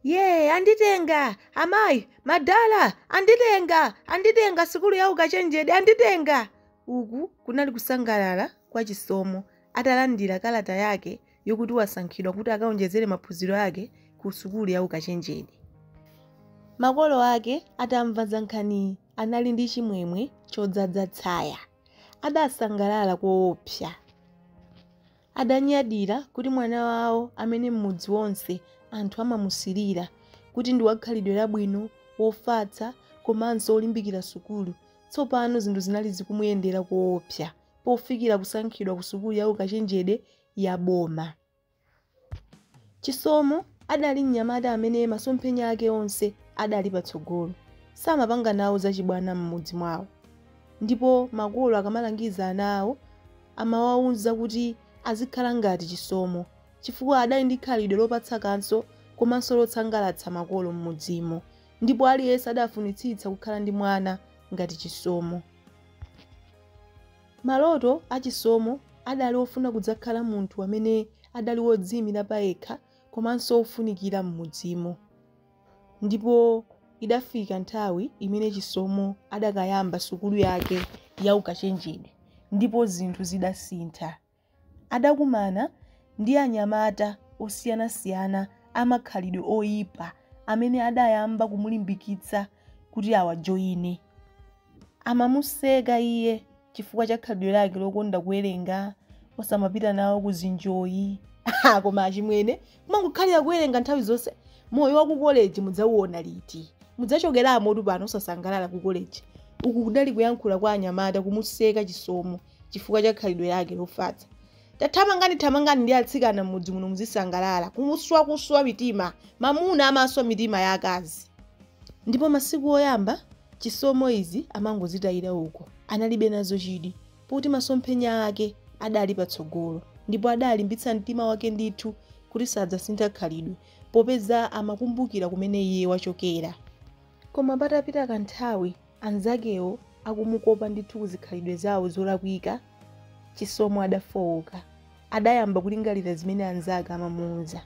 Yee, anditenga! Amayi, madala, anditenga! Anditenga! Sukulu ya ukachenjede, anditenga! Uku kunali kusangalala kwa Chisomo atalandira kalata yake yokuti wasankhidwa kuti akaonjezere maphunziro ake ku sukulu ya ukachenjede. Makolo ake atamva za nkhaniyi anali ndi chimwemwe chodzadza tsaya. Adasangalala koopsa. Adanyadira kuti mwana wawo amene m'mudzi wonse anthu amamusirira kuti ndi wakhalidwe labwino, wofatsa komanso wolimbikira sukulu, tsopano zinthu zinali zikumuyendera koopsa pofikira kusankhidwa kusukulu ya ukachenjede ya boma. Chisomo adali mnyamata amene masomphenya ake onse adali patsogolo. Samapanga nawo zachibwana m'mudzi mwawo ndipo makolo akamalangiza ana awo, amawauza kuti azikhala ngati Chisomo chifukwa adali ndi khalidwe lopatsa kaso komanso losangalatsa makolo m'mudzimo ndipo aliyense adafunitsitsa kukhala ndi mwana ngati Chisomo. Maloto a Chisomo adali ofuna kudzakhala munthu amene adali wodziimira payekha komanso wofunikira m'mudzimo. Ndipo idafika nthawi imene Chisomo adakayamba sukulu yake ya ukachenjede ndipo zinthu zidasintha. Adakumana ndi anyamata osiyanasiyana a makhalidwe oipa amene adayamba kumulimbikitsa kuti awajoine. amamuseka iye chifukwa cha khalidwe lake lokonda kuwerenga osamapita nawo ku zinjoyi ah, koma achimwene kumangokhalira kuwerenga nthawi zonse moyo wa ku koleji mudzauona liti mudzachokeramotu pano osasangalala ku koleji uku kudali kuyankhula kwa anyamata kumuseka chisomo chifukwa cha khalidwe lake lofatsa tathamangani thamangani ndi atsikana m'mudzi muno muzisangalala kuswa kuswa mitima mamuna amaswa mitima ya akazi Ndipo masiku oyamba, Chisomo izi amangozitayira uko, analibe nazo chidwi, poti masomphenya ake adali patsogolo, ndipo adalimbitsa mtima wake ndithu kuti sadzasintha khalidwe, popeza amakumbukira kumene iye wachokera. Koma patapita kanthawi, anzakewo akumukopa ndithu ku zikhalidwe zawo zolakwika, Chisomo adafooka, adayamba kulingalira zimene anzake amamuuza.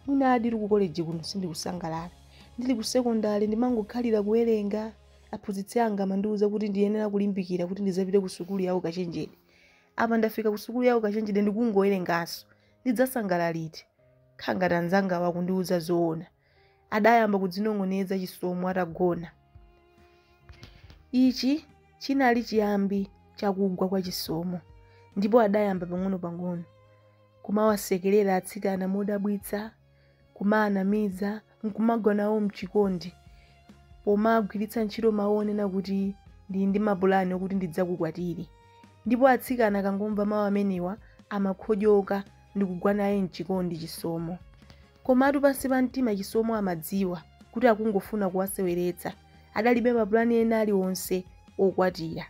mwinadi ndili ku koleji kuno sindikusangalala ndili ku sekondale ndimangokhalira kuwerenga aphunzitsi anga amandiuza kuti ndiyenera kulimbikira kuti ndizapite ku sukulu ya ukachenjede apa ndafika ku sukulu ya ukachenjede ndikungowerenganso ndidzasangalala liti nkhangati anzanga akundiuza zoona adayamba kudzinong'oneza chisomo atagona ichi chinali chiyambi chakugwa kwa chisomo ndipo adayamba pang'ono pang'ono kumawasekerera atsikana modabwitsa, kumaanamiza, n'kumagwa nawo m'chikondi pomagwiritsa ntchito mawu onena kuti ndili ndi mapulani okuti ndidzakukwatire. Ndipo atsikana akangomva mawu amenewa amakhotyoka ndi kugwa naye m'chikondi Chisomo. Komatu pansi pa mtima Chisomo amadziwa kuti akungofuna kuwaseweretsa, adalibe mapulani ena alionse okwatira.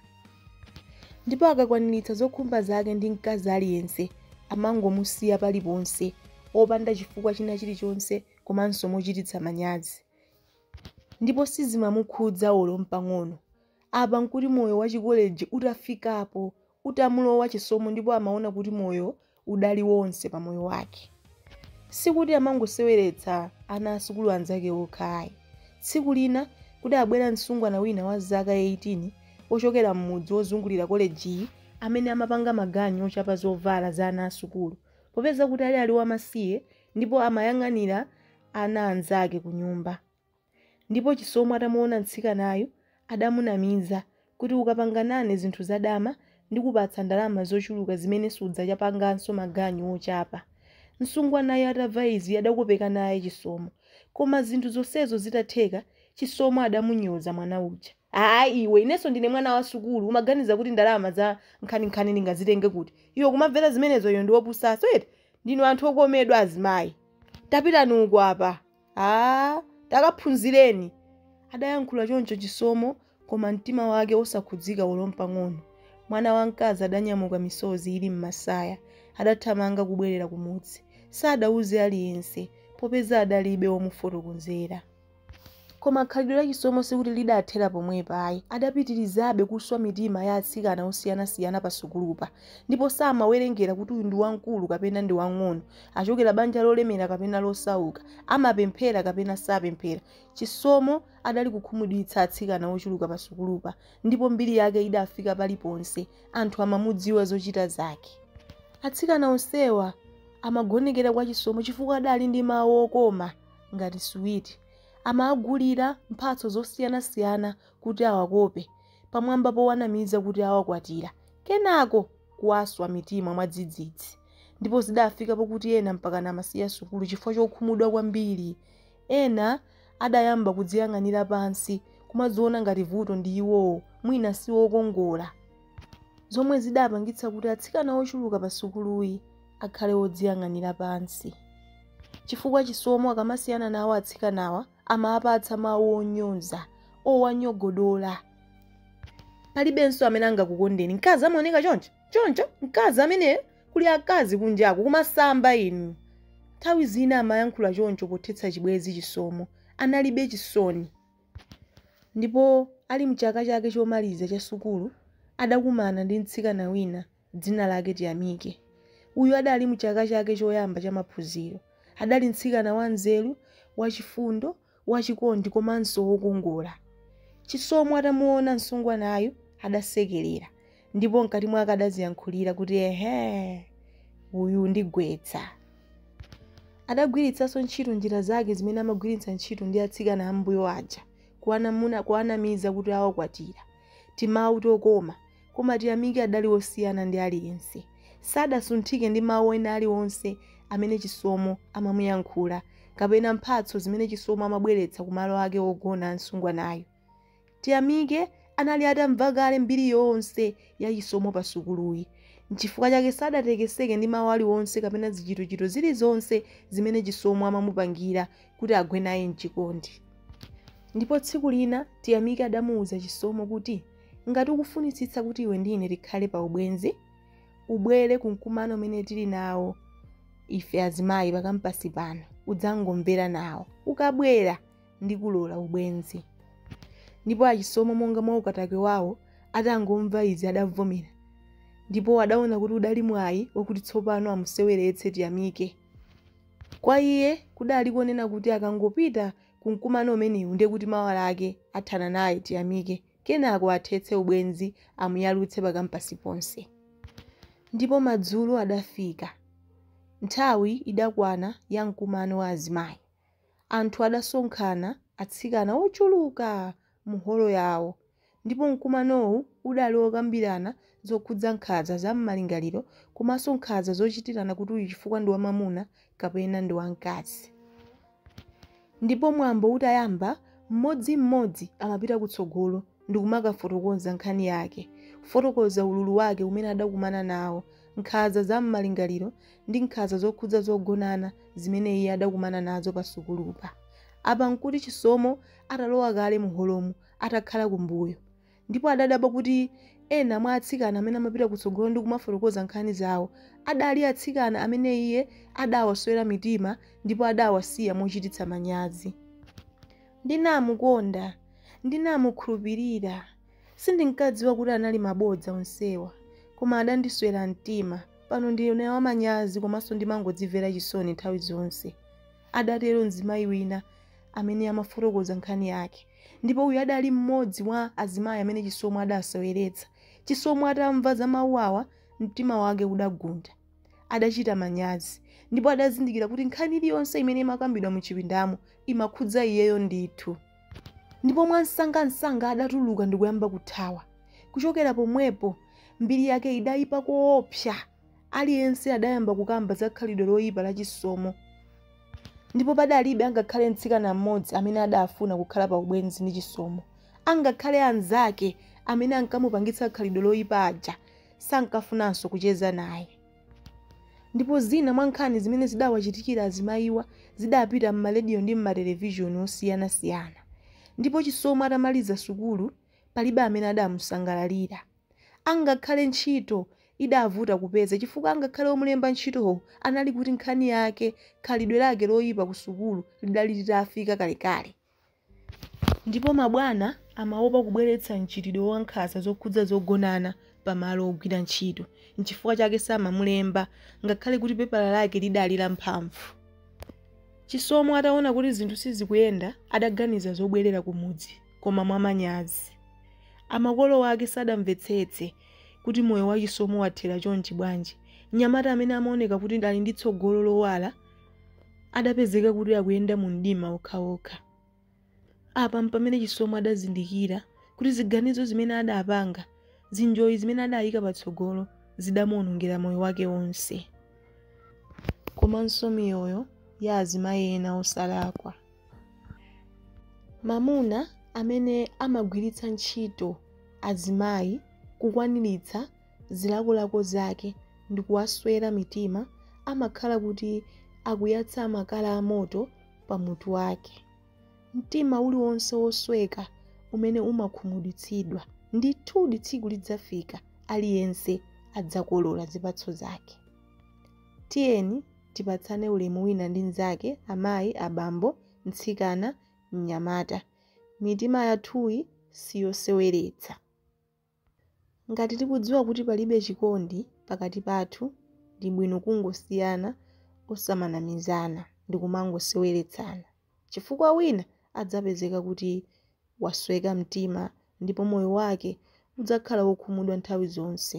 ndipo akakwaniritsa zokhumba zake ndi mkazi aliyense amangomusiya paliponse opanda chifukwa china chilichonse komanso mochititsa manyazi ndipo sizimamukhudza olo mpang'ono apa nkuti moyo wa chikoleji utafikapo utamulowa chisomo ndipo amaona kuti moyo udali wonse pa moyo wake sikuti amangoseweretsa ana asukulu anzake okha ayi tsiku lina kudadzabwera msungwana wina wa zaka 18 wochokera m'mudzi wozungulira kolejiyi amene amapanga maganyu ochapa zovala za ana asukulu popeza kuti adali ali wamasiye ndipo amayang'anira ana anzake kunyumba Ndipo Chisomo atamuona mtsikanayu adamunamiza kuti ukapanga nane zinthu zadama ndikupatsa ndalama zochuluka zimene sudzachapanganso maganyu ochapa. Msungwanayu atamva izi adakopeka naye Chisomo. Koma zinthu zonsezo zitatheka Chisomo adamunyoza mwana uja. Aaa iwe, inenso ndine mwana wa sukulu, umaganiza kuti ndalama za nkhaninkhani ndingazitenge kuti? Iwe kumamvera zimenezo, iwe ndi wopusanso eti? Ndinu anthu okomedwa azimayi. Tapitani uko apa. Aaa, takaphunzireni. Adayankhula choncho Chisomo koma mtima wake osakhudzika olo mpang'ono. Mwana wamkazi adanyamuka misozi ili m'masaya. Adathamanga kubwerera kumudzi. Sadauze aliyense popeza adalibe womufotokozera. Koma khalidwe la Chisomo sikuti lidathera pomwepa ayi. Adapitirizabe kuswa mitima ya atsikana osiyanasiyana pasukulupa, ndipo samawerengera kuti uyu ndi wamkulu kapena ndi wamng'ono, wochokera banja lolemera kapena losauka, amapemphera kapena sapemphera. Chisomo adali kukhumudwitsa atsikana ochuluka pasukulupa, ndipo mbiri yake idafika paliponse, anthu amamudziwa zochita zake. Atsikana onsewa amagonekera kwa Chisomo chifukwa adali ndi mawu okoma. ngati suwiti. Amawagulira mphatso zosiyanasiyana kuti awakope, pamwamba powanamiza kuti awakwatira, kenako kuwaswa mitima mwadzidzidzi. Ndipo zidafika pokuti ena mpakana amasiya sukulu chifukwa chokhumudwa kwambiri. Ena adayamba kudziyang'anira pansi, kumadziona ngati vuto ndi iwowo, mwina si okongola. Zomwe zidapangitsa kuti atsikana ochuluka pasukuluyi akhale odziyang'anira pansi chifukwa chisomo akamasiyana nawo atsikanawa amawapatsa mawu onyoza owanyogodola palibenso amene angakukondeni mkazi amaoneka choncho mkazi amene kuli akazi kunjaku kumasamba inu nthawi zina amayankhula choncho pothetsa chibwezi chisomo analibe chisoni ndipo ali mchaka chake chomaliza cha sukulu adakumana ndi mtsikana wina Dzina lake Tiyamike. Uyu adali mu chaka chake choyamba cha maphunziro. Adali mtsikana wa nzeru, wa chifundo, wa chikondi komanso wokongola. Chisomo atamuona msungwanayu adasekelera ndipo mkati mwake adadziyankhulira kuti ehe! Uyu ndigwetsa. Adagwiritsanso ntchito njira zake zimene amagwiritsa ntchito ndi atsikana ambuyo aja kuwanamiza kuti awakwatira. Timawu tokoma, koma tiyamike adali wosiyana ndi aliyense. Sadasunthike ndi mawu ena aliwonse amene Chisomo amamuyankhula kapena mphatso zimene Chisomo amabweretsa kumalo ake ogona a msungwanayo. Tiyamike anali atamva kale mbiri yonse ya Chisomo pasukuluyi, nchifukwa chake sadatekeseke ndi mawu aliwonse kapena zichitochito zilizonse zimene Chisomo amamupangira kuti agwe naye mchikondi ndipo tsiku lina tiyamike adamuwuza chisomo kuti ngati ukufunitsitsa kuti iwe ndi ine tikhale pa ubwenzi ubwere ku mkumano umene tili nawo ife azimayi pakampasi pano udzangomvera nawo ukabwera ndikulola ubwenzi ndipo achisomo monga mwa ukatakwe wawo atangomva izi adavomera ndipo adaona kuti udali mwayi wakuti tsopano amuseweretse tiyamike Kwa iye, kudali konena kuti akangopita ku mkumano umenewu ndiye kuti mawa lake athana naye Tiyamike kenako athetse ubwenzi amuyalutse pa kampasi ponse. Ndipo madzulo adafika. Nthawi idakwana ya mkumano wa azimayi. Anthu adasonkhana, atsikana ochuluka mu holo yawo, ndipo mkumanowu udali wokambirana zokhudza nkhanza za mmalingaliro komanso nkhanza zochitirana kuti uyu chifukwa ndi wamamuna kapena ndi wamkazi. Ndipo mwambo utayamba, mmodzi mmodzi amapita kutsogolo ndikumakafotokoza nkhani yake, kufotokoza ululu wake umene adakumana nawo, nkhanza za mmalingaliro ndi nkhanza zokhudza zogonana zimene iye adakumana nazo pa sukulupa. Apa nkuti Chisomo atalowa kale mu holomo atakhala kumbuyo, ndipo adadabwa kuti ena mwa atsikana amene amapita kutsogolo ndi kumafotokoza nkhani zawo adali atsikana amene iye adawaswera mitima ndipo adawasiya mochititsa manyazi. Ndinamukonda! Ndinamukhulupirira! Sindinkadziwa kuti anali mabodza onsewa, koma adandiswera mtima. Pano ndine wamanyazi komanso ndimangodzimvera chisoni nthawi zonse, adatero mzimayi wina amene amafotokoza nkhani yake ndipo uyu adali mmodzi mwa azimayi amene chisomo adaseweretsa chisomo atamva za mawu awa mtima wake udagunda adachita manyazi ndipo adazindikira kuti nkhani iliyonse imene imakambidwa mu chipindamo imakhudza iyeyo ndithu ndipo mwansangansanga adatuluka ndikuyamba kuthawa kuchokera pomwepo mbiri yake idayipa koopsa aliyense adayamba kukamba za khalidwe loyipa la Chisomo. Ndipo padalibe angakhale mtsikana mmodzi amene adafuna kukhala pa ubwenzi ndi Chisomo. Angakhale anzake amene ankamupangitsa khalidwe loyipa aja sankafunanso kucheza naye. Ndipo zina mwa nkhani zimene zidawachitikira azimayiwa zidapita m'marediyo ndi m'matelevishoni osiyanasiyana. Ndipo Chisomo atamaliza sukulu palibe amene adamusangalalira. Angakhale ntchito idavuta kupeza chifukwa angakhale omulemba ntchitowo anali kuti nkhani yake, khalidwe lake loipa kusukulu lidali litafika kalekale. Ndipo mabwana amaopa kubweretsa mchitidwe wa nkhanza zokhudza zogonana pa malo ogwira ntchito n'chifukwa chake samamulemba ngakhale kuti pepala lake lidali la mphamvu. Chisomo ataona kuti zinthu sizikuyenda adaganiza zobwerera kumudzi. koma mwamanyazi. Amakolo ake sadamvetsetse kuti moyo wa Chisomo wathera chonchi bwanji. Mnyamata amene amaoneka kuti ali ndi tsogolo lowala adapezeka kuti akuyenda mumdima wokhawokha. Apa mpamene Chisomo adazindikira kuti ziganizo zimene adapanga, zinjoyi zimene adayika patsogolo zidamuonongera moyo wake wonse komanso miyoyo ya azimayi ena osalakwa. Mamuna amene amagwiritsa ntchito azimayi kukwaniritsa zilakolako zake ndikuwaswera mitima amakhala kuti akuyatsa makala amoto pa mutu wake. Mtima uliwonse wosweka umene umakhumudwitsidwa, ndithudi tsiku lidzafika aliyense adzakolola zipatso zake. Tiyeni Tipatsane ulemu wina ndi mzake, amayi, abambo, mtsikana, mnyamata. Mitima yathuyi siyoseweretsa. Ngati tikudziwa kuti palibe chikondi pakati pathu ndi bwino kungosiyana osamanamizana ndikumangoseweretsana chifukwa wina adzapezeka kuti wasweka mtima ndipo moyo wake udzakhala wokhumudwa nthawi zonse.